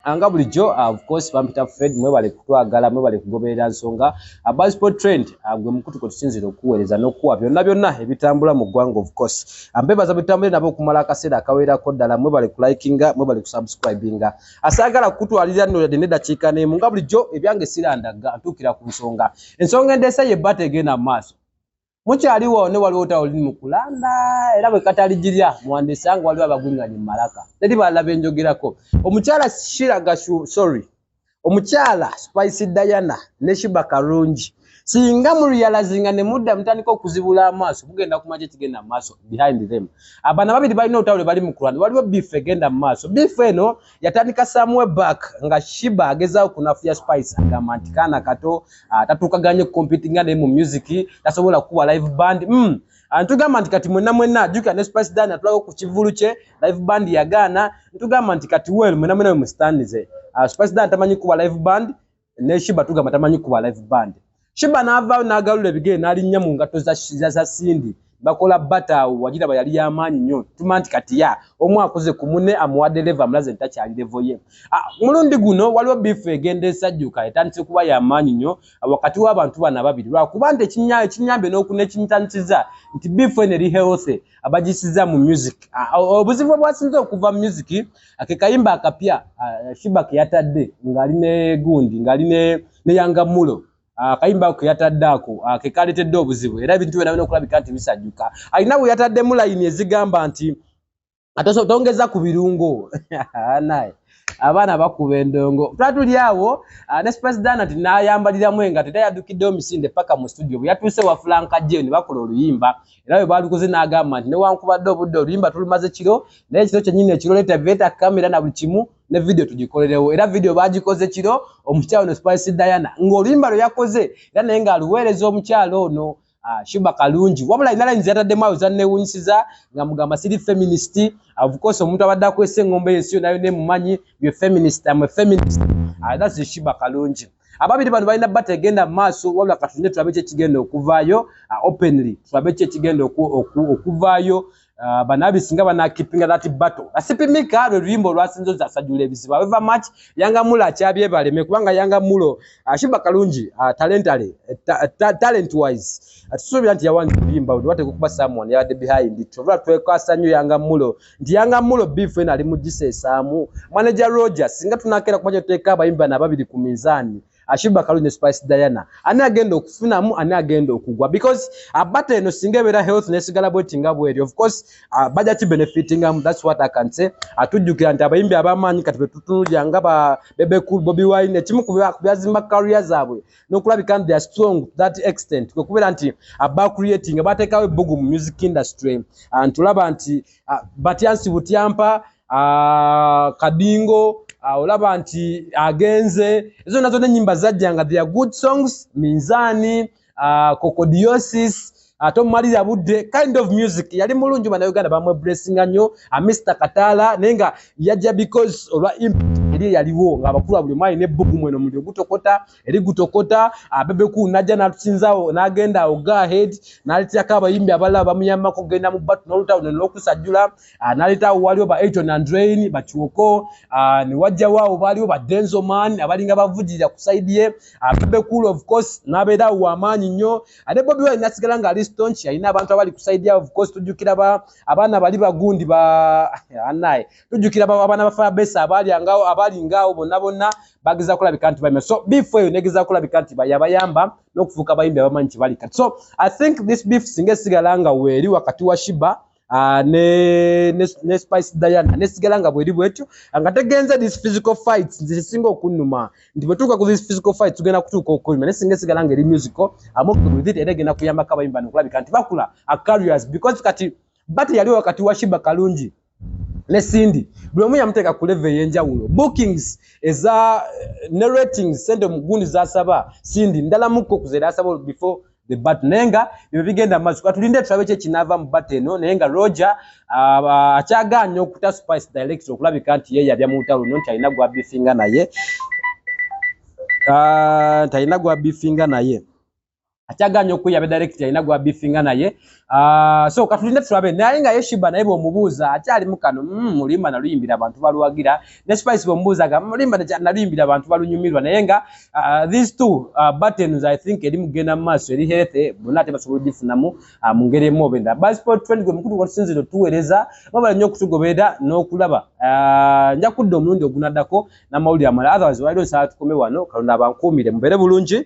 anga ah, bulijjo ah, of course bampita fred mwebale kutwagala mwebale kugoberera nsonga ah, bas sport trend gwe mukutu kwe tusinzira okuweereza n'okuwa byonna byonna ebitambula mu ggwanga of course mbebaza bitambule nabo okumala akaseera akawerako ddala mwebale kulikinga mwebale kusubscribinga asaagala kukutwalira nno yadde nedakiika neemu nga bulijjo ebyange sirandagga ntuukira ku nsonga ensonga endeesa ye bata egenda mu maaso mukyaliwo ne waliwo tawo liri mu kulanda era bwe katali girya muwandiisa nga waliwo abagwinganye mu malaka teri balala benjogerako omukyala shiraga sorry omukyala spice diana ne shiba karungi singa muriyalazinga ne mudda mutandika okuzibula amaaso mugenda kumaki ekigenda mu maaso behind them abana babiri balina otawule bali mu kulanda waliwo bifa egenda mu maaso bifa eno yatandika samwe back nga shiba agezawo kunafuya spice agamba nti kaana kato ah, tatuukaganye kukompitinga naye mu music tasobola kukuba live band mm. Ah, ntugamba nti kati mwena mwena jukira ne spice dan atulako ku kivulu kye live band yagaana ntugamba nti kati wel mwena mwena wemusitandize ah, spice dan tamanyi kukuba live band ne shiba tugamba tamanyi kuba live band shiba navaayo nagalula ebigere nalinnya mu ngatto za sindi bakola bata awo wagiraba yali yamaanyi nnyo tuma nti kati ya omu akuze ku mune amuwadde leva amulaze nti takyali levo ye ah, mulundi guno waliwo biifu egenda esajjuka etandise kuba yamaanyi nnyo ah, wakati w'abantu bano ababiri lwakuba nti ekinyambye n'okuna ekimitandisiza nti biifu eno eri healthy abagisiza mu music ah, obuzibu obwasinze okuva mu music ake kayimba akapya uh, shiba keyatadde ngali ne gundi ngali ne ne yanga mulo ah, akayimba uh, keyatadde ako uh, ah, kekaletedde obuzibu era ebintu byona bino okulabika nti bisajjuka alina bwe yatadde mulayini ezigamba nti ataso tongeza ku birungo naye abaana bakuba endongo twatuli awo ah, ne spresidana nti nayambaliramu engato era yadukidde omisinde paka mu studio bwe yatuuse wa fulankajeni bakola oluyimba era bwe baalikoze n'agamba nti newankubadde obudde oluyimba tulumaze kiro naye ekiro kyennyini ekiro leeta beeta kamera na buli kimu ne vidiyo tugikolerewo era vidiyo baagikoze kiro omukyalo no spice diana ng'oluyimba lwe yakoze era naye ng'aluweereza omukyalo ono Ah, shuba kalungi wabula alina layini zeyataddemu awo zannewunyisiza nga mugamba siri feminist ofcourse omuntu abadde akwesa engombo yensi yonayona emumanyi ye feminist am feminist ah, thats shuba kalungi ababiri bano balina bata egenda mu maaso wabula katunde tulabe ki ekigenda okuvaayo uh, openly tulabe ki ekigenda okuvaayo uh, banabi singa banakipinga that battle asipimika lwe luyimba olwasinza ozasajula ebizibu aweva mach yanga mulo akyabyebaleme kubanga yanga mulo uh, shiba kalungi talentale talent wise tusuubira nti yawange oluyimba wewateka okuba someone yabadde behind twevula twekasa nnyo yanga mulo nti yanga mulo beef ena ali mujisa esamu manager Roger singa tunakera kuba kyoteka abayimbi bana ababiri ku mizani Ashiba Kalu ne Spice Diana ani agenda okufunamu ani agenda okugwa because abata eno singa ebera health nesigala bweti nga bweri of course uh, baja ki benefiting am that's what I can say atujukira nti abayimbi abamanyi kati betutunulya nga ba Bebe Cool Bobby Wine ekimu ku byazimba career zabwe nokulabika nti they are strong to that extent kwekubeera nti aba creating batekawo ebbugu mu music industry ah, ntulaba nti ah, batyansi butyampa ah, kadingo olaba nti agenze ezo nazo nenyimba zajja nga thea good songs minzani kokodiosis uh, ate ah, omumali yabudde kind of music yali mulungi bana uganda bamwe blessinga nnyo a ah, mr katala naye nga yajja because olwa eri yaliwo ngaabakulu abuli mwali nebbugu mweno muli ogutokota eri gutokota abebeku ah, najja natusinzawo nagenda awo gahead naleterako abayimbi abalala bamuyambako kugenda mu batu nolutawo nelokusajjula naletawo waliwo ba aton andrain bakiwoko newajjawo awo baliwo ba denzoman abalinga bavujirira ku saidi ye abebekulu of course nabeerawo wamaanyi nnyo ate bobi wine nasigala nga ali stonch alina abantu abali kusaidia of course tujjukira ba abaana bali bagundi ba anaye tujjukira ba abaana ba fabesa abali angao abali ngao bonna bonna bagiza kulabika nti bayima so before yo negiza kulabika nti bayabayamba n'okufuuka abayimbi abamanyi kye bali kati so i think this beef singa esigala nga weeri wakati wa shiba Ah, ne ne ne spice diana ne sigala nga bweri bwetyo nga tegenze this physical fights nzise singa okunuma ndi batuka ku this physical fights tugenda kutuka okulima ne singa sigala nga eri musical amo ku with it era genda kuyamba kaba imba no kulabika nti bakula a careers because kati bati yali wakati wa shiba kalungi ne sindi buli omu yamuteka ku level yenjawulo bookings eza eh, ne ratings sente mugundi zasaba sindi ndala muko kuzera asaba before the bat naye nga byo bigenda maaso katulinde tulabe ki ekinava mu bat eno naye nga roger ah, akyagaanya okuta spice direct okulabika nti ye yabya mu lutalo luno nti alina gwabifinga naye ah, talina gwabifinga naye akyagaanya okweyabe direct alina gwabifinga naye Ah, so katulinde tulabe naye nga yeshiba naye bwomubuuza akyali mukano mm, mulimba mm, naluyimbira abantu baluwagira ne spice bwomubuuza ga mulimba naluyimbira abantu balunyumirwa naye nga uh, these two uh, buttons i think eri mugenda mu maaso eri healthy bonna ate basobola ogifunamu uh, mu ngeri emu obenda basiport trend gwe mukulu gwatusinzira otuweereza babala nnyo okutugoberera n'okulaba uh, nja kudda omulundi ogunaddako n'amawulire amala otherwise waliwo nsaba tukome wano kalonda abankuumire mubeere bulungi